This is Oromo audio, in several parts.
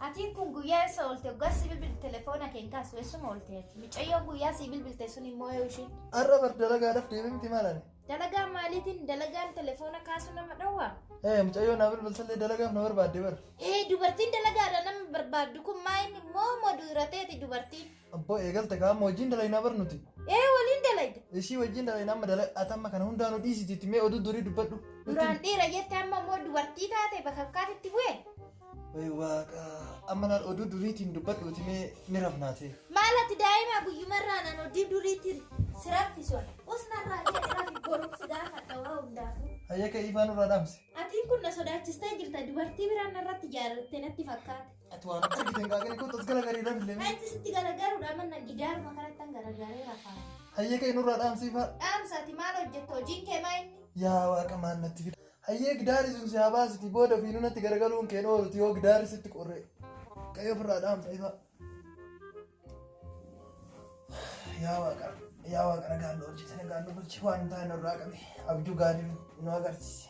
Atiin kun guyyaa eessa oolte guyyaa si bilbilte telefoona kee hin kaasu eessuma oolte ati mucayyoo guyyaa si bilbilte sun immoo yoo isheen Har'a bar dalagaadhaaf deemee miti maal ani? dalagaa maaliitiin dalagaan telefoona kaasu nama dhowwa Ee mucayyoo naa bilbilsallee dalagaaf na barbaadde bar. ee dubartiin dalagaadha nama barbaaddu kun maa inni moo moo duurateeti dubartiin Abboo eegalte kaa amma wajjin dalaynaa bar nuti. Ee waliin dalayda. Ishii wajjin dalaynaa amma dalay ati amma kana hundaanuu dhiisiti itti mee oduu durii dubbadhu. Duraan dhiira jette amma immoo dubartii taate bakakkaatitti bu'e. Way waaqa amma laal oduu duriitiin dubbadhu itti mee ni rafnaatee. Maal ati daa'imaa guyyumarraa naan oduu duriitiin si raffison. Us narraa jedhe rafi boruuf si gaafadha waa hundaafuu. Hayyaka ifaa nurraa dhaamsi. Atiin kun na sodaachistee jirta dubartii biraan narratti jaalatte natti fakkaate. Ati waan argitan gaaganii kun tas galagarii dhabin lemee. Ati sitti garagaruudha manna gidaaruma kanatti an garagaree rafaa. Hayyee kee nurraa dhaamsiifaa. Dhaamsa ati maal hojjetta hojiin kee maa inni? Yaa waaqa maal natti fida. Hayyee gidaari sun si haa baasiti booda fi nunatti garagaluun keen ooluti yoo gidaari sitti qorree. Qayyoo ofirraa dhaamsa ifaa. Yaa waaqa yaa waaqa nagaan nu hojjete nagaan nu bulchi waan taa'e nurraa qabe abjuu gaarii nu agarsiise.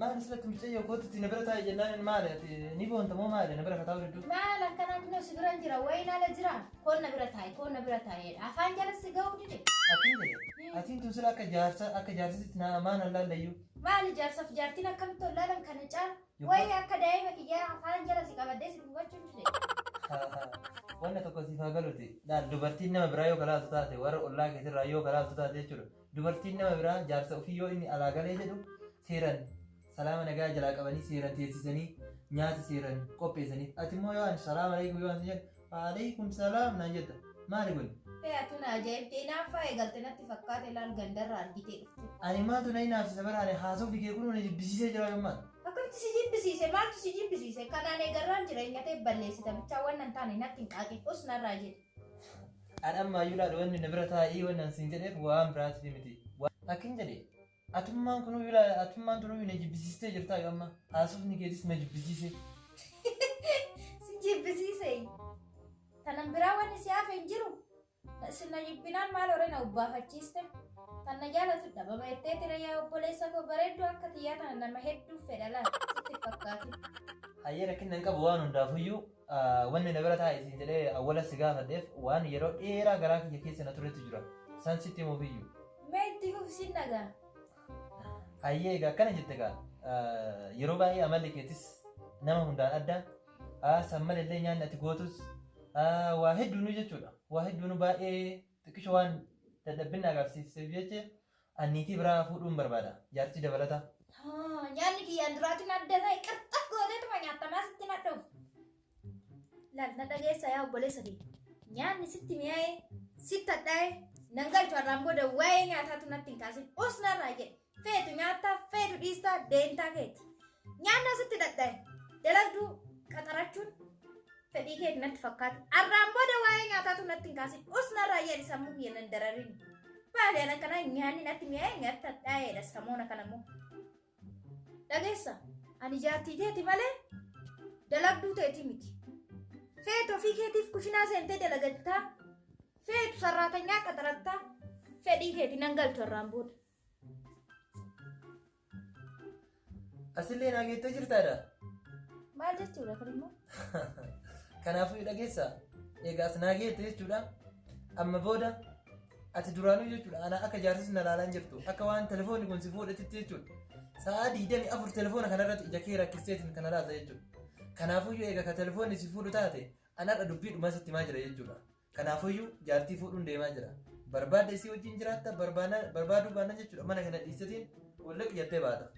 Maal asirratti mucayyoo kootu itti na bira taa'e jennaan inni maali ati ni boonta moo maali na bira kataa walidduu. Maal akkanaa kunoo si biran jira wayiin ala jira koon na bira taa'e koon na bira taa'eedha afaan jala si ga'uu dide. Akkin jedhe atiin tun sila akka jaarsa akka jaarsisitti na maan allaallayyuu. Maal ijaarsaaf jaartiin akkamitti ollaalan kana caala Yobba. wayii akka daa'ima kiyyaa afaan jala si qabadee si dubbachuu dide. Wanna tokko siif haa galuti. Laal dubartiin nama biraa yoo kalaaltu taate warra ollaa keetirraa yoo kalaaltu taate jechuudha. Dubartiin nama biraa jaarsa ofii yoo inni alaa galee jedhu seeran salaama nagaa jalaa qabanii seeran teessisanii nyaata seeran qopheessaniif. Ati immoo yoo ani salaam aleekum yoo ani jedhu aleekum salaam naan jetta. Maali kun? Hee atu na ajaa'ibde inaaffaa eegalte natti fakkaate laal gandarra argitee dhufte. Ani maaltu na inaafsisa bara ani haasofni kee kun na jibbisiisee jira gammaan. Akkamitti si jibbisiise maaltu si jibbisiise kanaan eegarraan jireenya ta'e balleessita bichaa waan nan taane natti hin qaaqe us narraa jedhe. An ammaa iyyuu laal wanni na bira taa'ii wanni an siin jedheef waan biraatiif miti. Akkin jedhe atummaan kunuu iyyuu laal atummaan duruu iyyuu na jibbisiistee jirtaa yoo amma haasofni keetis na jibbisiise. Si jibbisiise. Tanan biraa wanni si hafe hin jiru. Isin na jibbinaan maal horee na ubbaafachiiste. Tan na jaalatu dhabama jettee tira yaa obboleessa koo bareedduu akka tiyyaa tana nama hedduuf fedha laal sitti hin fakkaatin. Hayyee rakkinna hin qabu waan hundaafuyyuu. Wanni na bira taa'i siin jedhee awwala si gaafadheef waan yeroo dheeraa garaa kiyya keessa na turetu jira. San sitti himuufiyyu. Mee itti fufi sin dhaga'a. Hayyee egaa akkana jette gaa. Yeroo baay'ee amalli keetis nama hundaan adda. San maleellee nyaanni ati gootus waa hedduunuu jechuudha. Waa hedduunuu baay'ee xiqqisho waan dadhabbinna agarsiisteef jecha An niitii biraa fuudhuun barbaada. Jaartii dabalataa. Haa, nyaanni kiyyaan duraatiin adda ta'e qirxaf gooteetuma nyaattamaa sitti nadhuuf. Laal na dhageessa yaa obboleessa kee. Nyaanni sitti mi'aa'ee, sitti hadhaa'ee, nan galchu har'aan booda waa'ee nyaataatu natti hin kaasin. Us narraa jedhe. Feetu nyaattaa, feetu dhiistaa, deemtaa keeti. Nyaannaa sitti dhadhaa'e. Dalagduu qaxarachuun Fedhii keeti natti fakkaate. Arraan booda waa'ee nyaataatu natti hin kaasin. Us narraa jedhi sammuu kiyya nan dararin. Baadiyaan akkanaa nyaanni natti mi'aa'ee nyaata dhaa'eedha samoona kana immoo. Dhageessa ani jaartii teeti malee dalagduu teeti miti. Feetu ofii keetiif kushinaa seentee dalagattaa. Feetu sarraatanyaa qaxarattaa. Fedhii keeti nan galchu arraan booda. Asillee naa geettee jirtaadha. Maal jechuudha kun immoo? Kanaafuu dhageessa. Eegaas naa geette jechuudha. Amma booda ati duraanuu jechuudha. Ana akka jaarsis na laalaan jirtu. Akka waan telefoonni kun si fuudhatitti jechuudha. Sa'aa digdami afur telefoona kanarratti ija kee rakkisteetiin kana laalta jechuudha. Kanaafuu eega ka telefoonni si fuudhu taate anarra dubbii dhumaa sitti himaa jira jechuudha. Kanaafuyyu jaartii fuudhuun deemaa jira. Barbaadde isii wajjin jiraatta barbaana- barbaaduu baannan jechuudha mana kana dhiistetiin wallaqi jettee baata.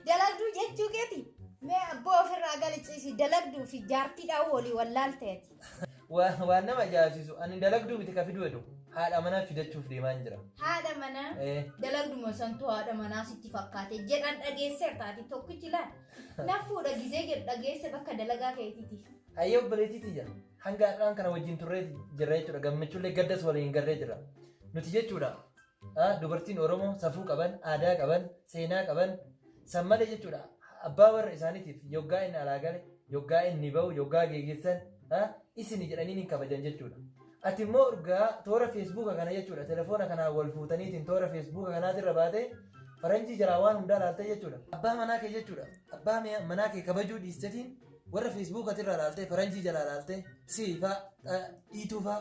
Dalagduu jechuu keeti. Mee abboo ofirraa galiciisi dalagduu fi jaartii dhaa'uu olii wallaalteeti. Waa- Waan nama ajaa'ibsiisu ani dalagduu miti ka fiduu hedu haadha manaa fidachuuf deemaan jira. Haadha manaa. Eh, Dalagduma santu haadha manaa sitti fakkaate jedhan dhageesseertaati tokkichi laal. Nafuudha gizee jedhu dhageesse bakka dalagaa keetiiti. Hayyee obboleettii tiyya hanga har'aan kana wajjin turree jirra jechuudha gammachuullee gaddas waliin garree jirra nuti jechuudha ah, dubartiin Oromoo safuu qaban aadaa qaban seenaa qaban san malee jechuudha abbaa warra isaaniitiif yoggaa inni alaa gale yoggaa inni ba'u yoggaa geegessan ah, isini jedhanii hin kabajan jechuudha. Ati immoo urgaa toora feesbuuka kana jechuudha telefoona kanaan wal fuutaniitiin toora feesbuuka kanaatirra baatee faranjii jalaa waan hundaa laaltee jechuudha abbaa manaa kee jechuudha abbaa manaa kee kabajuu dhiistetiin warra feesbuuka irraa ilaaltee faranjii jalaa ilaaltee siifaa dhiituufaa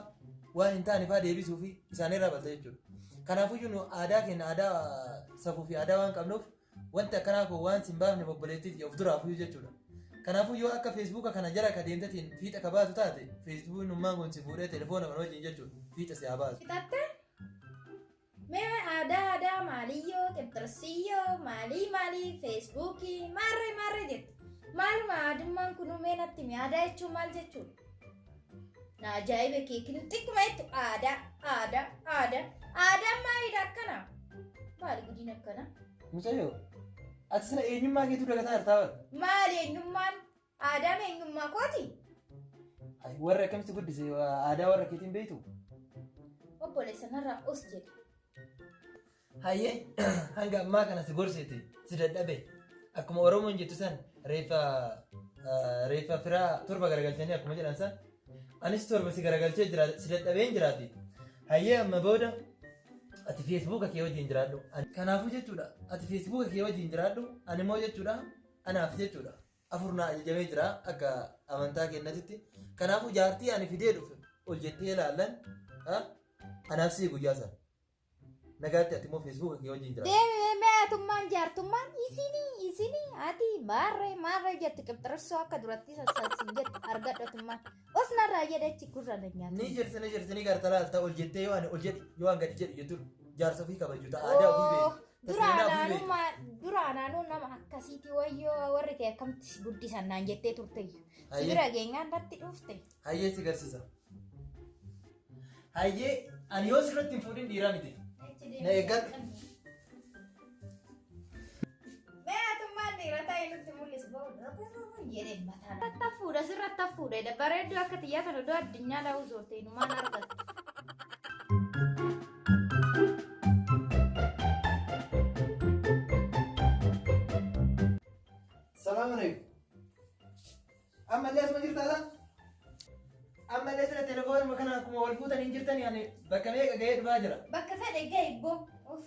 waan hin taanefaa deebisuu fi isaanirraa balte jechuudha. Kanaafuyyuu nu aadaa keenya aadaa safuu fi aadaa waan qabnuuf wanti akkanaa koo waan sin baafne obboleettiiti of duraafuyyuu jechuudha. Kanaafuu yoo akka feesbuuka kana jala ka deemtetiin fiixa ka baatu taate feesbuukin ummaan kun si fuudhee telefoona kana wajjin jechuudha fiixa si haa baasu. Fixattee Mee aadaa aadaa maaliyyoo qibxirsiyyoo maalii maalii feesbuukii maarree maarree jette maaluma aadummaan kunuu mee natti himi aadaa jechuun maal jechuudha? Na ajaa'ibe keekin xiqquma jettu aadaa aadaa aadaa aadaan maaliidha akkana maali gudiin akkana Mucayyoo, ati sila eenyummaa keetuu dagataa jirtaa bara. maali eenyummaan Aadaa fi eenyummaa kooti. Ay, Warra akkamitti guddise aadaa warra keetiin beektu? Obboleessa narraa os jedhe. Hayyee hanga ammaa kana si gorseeti si dadhabe akkuma Oromoon jettu san reeffa ah, reeffa firaa torba garagalchanii akkuma jedhan san anis torba si garagalchee jira si dadhabeen jiraati. Hayyee amma booda ati feesbuuka kee wajjin jiraadhu. Ani- Kanaafuu jechuudha ati feesbuuka kee wajjin jiraadhu ani immoo jechuudha anaaf jechuudha. afur naa ajajamee jira akka amantaa kennatitti kanaafuu jaartii ani fidee dhufe ol jettee ilaallan ha? anaaf sii guyyaa sana nagaatti ati immoo feesbuuka kee wajjin jira Deemee meetummaan jaartummaan isinii isinii ati maarree maarree jetti qibxirissoo akka duratti sassaasin jetti argadhotummaan os narraa jedhechi gurra na nyaata. ni jirti ni jirti ni garta laalta ol jettee yoo ani ol jedhi yoo an gadi jedhu jettu jaarsa ofii kabaju ta'a aadaa ofii beeku Duraan Seenaa bulee. aanummaa duraan aanuu nama akkasiiti wayyoo warri kee akkamitti si guddisan naan jettee turte. Si Hayyee. bira geenyaan irratti dhufte. Hayyee si garsiisa. Hayyee ani yoo sirratti hin fuudhin dhiiraa miti. Na eeggadhu. Mee atummaan dhiira ta'e nutti mul'isi booda jedhee mataa. Irratti hafuudha sirratti hafuudha bareedduu akka xiyyaa kana iddoo addunyaa daawuu zoortee numaan argatu. Salaam alaikum. Amma illee asuma jirtaa laa? Amma illee sira telefoonuma kana akkuma wal fuutanii jirtanii ani bakka meeqa ga'ee dhufaa jira. Bakka fedhe ga'e boo. Uff.